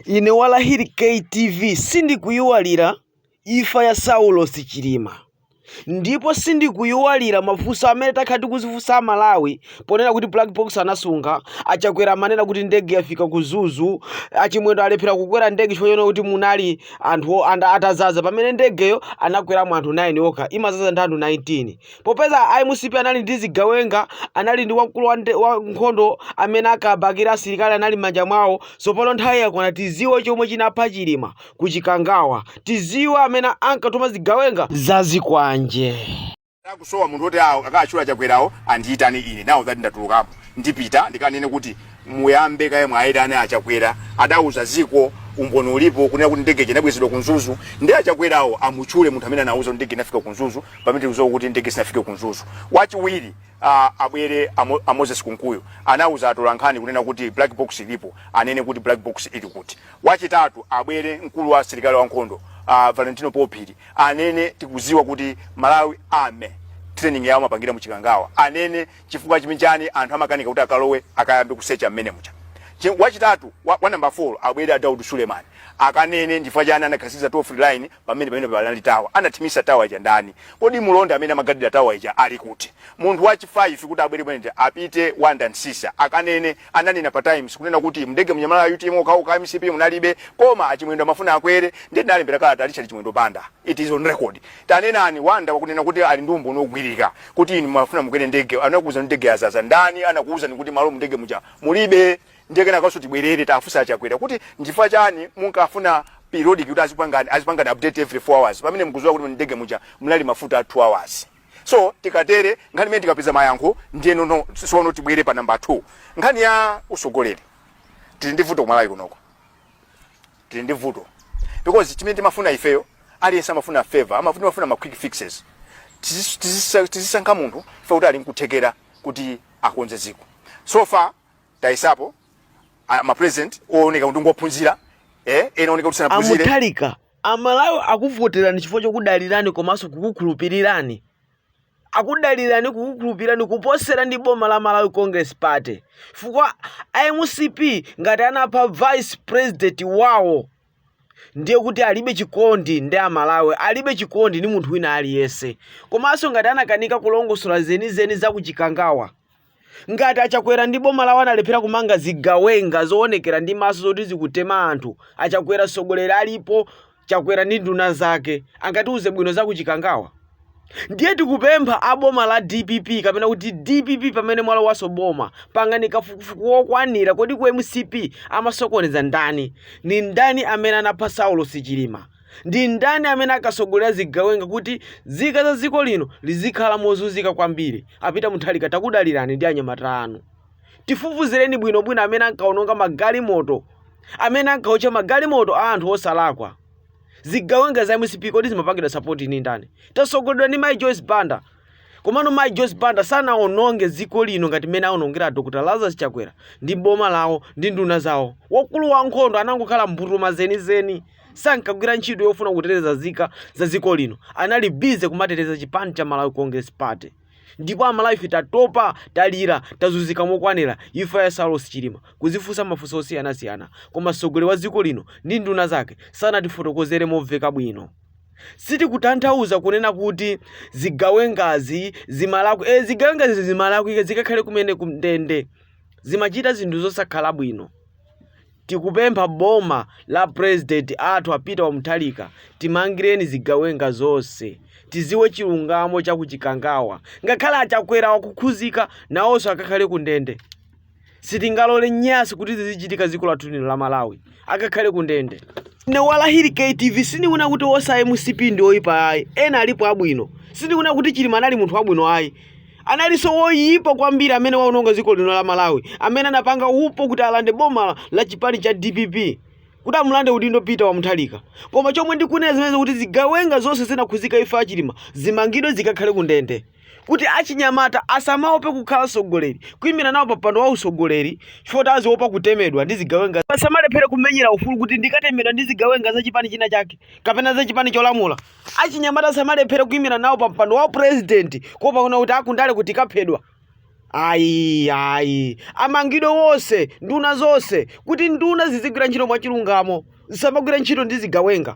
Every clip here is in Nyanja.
Ine walahiri KTV sindikuiwalira ifa ya saulos chilima ndipo sindikuiwalira mafunso amene takhala tikuzifunsa a Malawi ponena kuti black box anasunga, a chakwera amanena kuti ndege yafika ku mzuzu, a chimwendo alephera kukwera ndege chifukwa chonena kuti munali anthu atazaza pamene ndegeyo anakweramo anthu 9 okha imazaza ndi anthu 19. popeza a mcp anali ndi zigawenga anali ndi wamkulu wa, nde- wa nkhondo amene akabakira asilikali anali m'manja mwawo tsopano nthawi yakwana tiziwe chomwe chinapha chilima ku chikangawa tiziwe amene ankatuma zigawenga zazikwanje akusowa munthu oti awo akachula chakwerawo andiyitane ine nawo ati ndatulukapo ndipita ndikanene kuti muyambe kaye mwaayitane achakwera adauza ziko umboni ulipo kunena kuti ndege inabwezedwa ku mzuzu ndi achakwerawo amutchule munthu amene anauza kuti ndege inafika ku mzuzu pamene tikudziwa kuti ndege sinafike ku mzuzu wachiwiri uh, abwere amo, a moses kunkuyu anauza atolankhani kunena kuti black box ilipo anene kuti black box ili kuti wachitatu abwere mkulu wa asilikali wankhondo uh, valentino phiri anene tikudziwa kuti malawi army training yawo amapangira muchikangawa anene chifukwa chimene chani anthu amakanika kuti akalowe akayambe kusecha mmene mucha Chi- wachitatu wa, wa number 4 abwere a daud suleman akanene ndifukwa chani anakhazikitsa toll free line pamene pamene panali tower anathimitsa tower ija ndani kodi mulonda amene amagadira tower ija ali kuti munthu wachi 5 kuti abwere pamene apite wanda nsisa akanene ananena pa times kunena kuti mndege munali a utm okhaokha mcp munalibe koma achimwendo amafuna akwere ndiye ndinalembera kalata richard chimwendo banda it is on record tanenani wanda akunena kuti ali ndi umboni wogwirika kuti inu mumafuna mukwere ndege anakuuza ndege yazaza ndani anakuuzani kuti malo mndege muja mulibe ndiye kenakoso tibwerere tifunse achakwera kuti nchifukwa chani munkafuna periodic kuti azipangani azipangani update every 4 hours pamene mkuziwa kuti mndege muja mnali mafuta a 2 hours so tikatere nkhani imene tikapeza mayankho ndiye no sono tibwere pa namba 2 nkhani ya usogoleri tili ndi vuto kumalawi kunoko tili ndi vuto because chimene timafuna ifeyo aliyense amafuna favor amafuna amafuna ma quick fixes Tizis- tizisa- tizisankha munthu ife kuti ali nkuthekera kuti akonze ziko so far tayesapo a- ma president ooneka kuti ngophunzira eh ena ooneka kuti sanaphunzire amuthalika amalawi akuvoterani chifukwa chokudalirani komanso kukukhulupirirani akudalirani kukukhulupirirani kuposerana ndi boma la malawi congress party chifukwa a mcp ngati anapha vice president wawo ndiye kuti alibe chikondi ndi amalawi alibe chikondi ndi munthu wina aliyense komanso ngati anakanika kulongosola zenizeni za kuchikangawa ngati achakwera ndi boma lawo analephera kumanga zigawenga zoonekera ndi maso zoti zikutema anthu achakwera tsogoleri alipo achakwera ndi nduna zake angatiuze bwino za kuchikangawa ndiye tikupempha a boma la dpp kapena kuti dpp pamene mwalowanso boma pangani kafukufuku wokwanira kodi ku mcp amasokoneza ndani ndi ndani amene anapha saulos chilima Ndi ndani amene ankatsogolera zigawenga kuti zika za dziko lino zizikhala mozunzika kwambiri? A Peter Mutharika takudalirani ndi anyamata anu. Tifufuzireni bwino bwino amene ankaononga magalimoto amene ankaotcha magalimoto a anthu osalakwa. Zigawenga za mcp kodi zimapangidwa support ndi ndani? Tatsogoleredwa ndi Mayi Joyce Banda. Komano Mayi Joyce Banda sanaononge dziko lino ngati mmene aonongera a Dr Lazarus Chakwera ndi boma lawo ndi nduna zawo. Wakulu wankhondo anangokhala mbutuma zenizeni. sankagwira ntchito yofuna kuteteza zika za dziko lino anali busy kumateteza chipani cha malawi congress party ndipo amalawi ife tatopa talira tazunzika mokwanira imfa ya saulos chilima tikuzifunsa mafunso osiyanasiyana koma mtsogoleri wa dziko lino ndi nduna zake sanatifotokozere momveka bwino sitikutanthauza kunena kuti zigawengazi zimalakwa e, zigawengazi zimalakwa zikakhale kumene kumndende zimachita zinthu zosakhala bwino Tikupempha boma la president athu a Peter wa Mutharika timangireni zigawenga zonse tiziwe chilungamo cha ku chikangawa ngakhale a Chakwera akakhuzika nawonso akakhale ku ndende sitingalole nyasi kuti zizichitika dziko lathu lino la Malawi akakhale ku ndende ne walahiri KTV sindikunena kuti wonse a MCP ndi oyipa ayi ena alipo abwino sindikunena kuti Chilima anali munthu wabwino ayi analinso woyipa kwambiri amene waononga dziko lino la malawi amene anapanga upo kuti alande boma la chipani cha dpp kuti amulande udindo peter wa mutharika koma chomwe ndikunena ndi chimenechi kuti zigawenga zonse zinakhuzika imfa ya chilima zimangidwe zikakhale ku ndende kuti achinyamata asamaope kukhala sogoleri kuyimira nawo pampando wa usogoleri chifukwa kuti aziopa kutemedwa ndi zigawenga asamalephere kumenyera ufulu kuti ndikatemedwa ndi zigawenga za chipani china chake kapena za chipani cholamula achinyamata asamalephere kuyimira nawo pa mpando wa upresident kuopa kunena kuti aa kundale tikaphedwa ayi ayi amangidwe wonse nduna zonse kuti nduna zizigwira ntchito mwachilungamo zisamagwire ntchito ndi zigawenga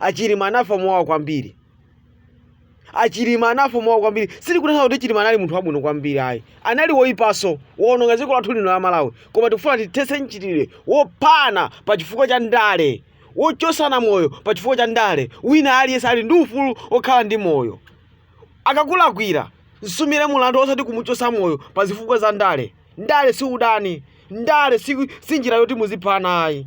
achilima anafa mowawa kwambiri achilima anafa mowawa kwambiri sitikunena kuti chilima anali munthu wabwino kwambiri ayi anali woyipanso woononga dziko lathu lino la malawi koma tikufuna tithetse mchitidwe wophana pa chifukwa cha ndale wochosana moyo pa chifukwa cha ndale wina aliyense ali ndi ufulu wokhala ndi moyo akakulakwila msumire mulandu osati kumuchosa moyo pa zifukwa za ndale ndale si udani ndale si njira yoti muziphana ayi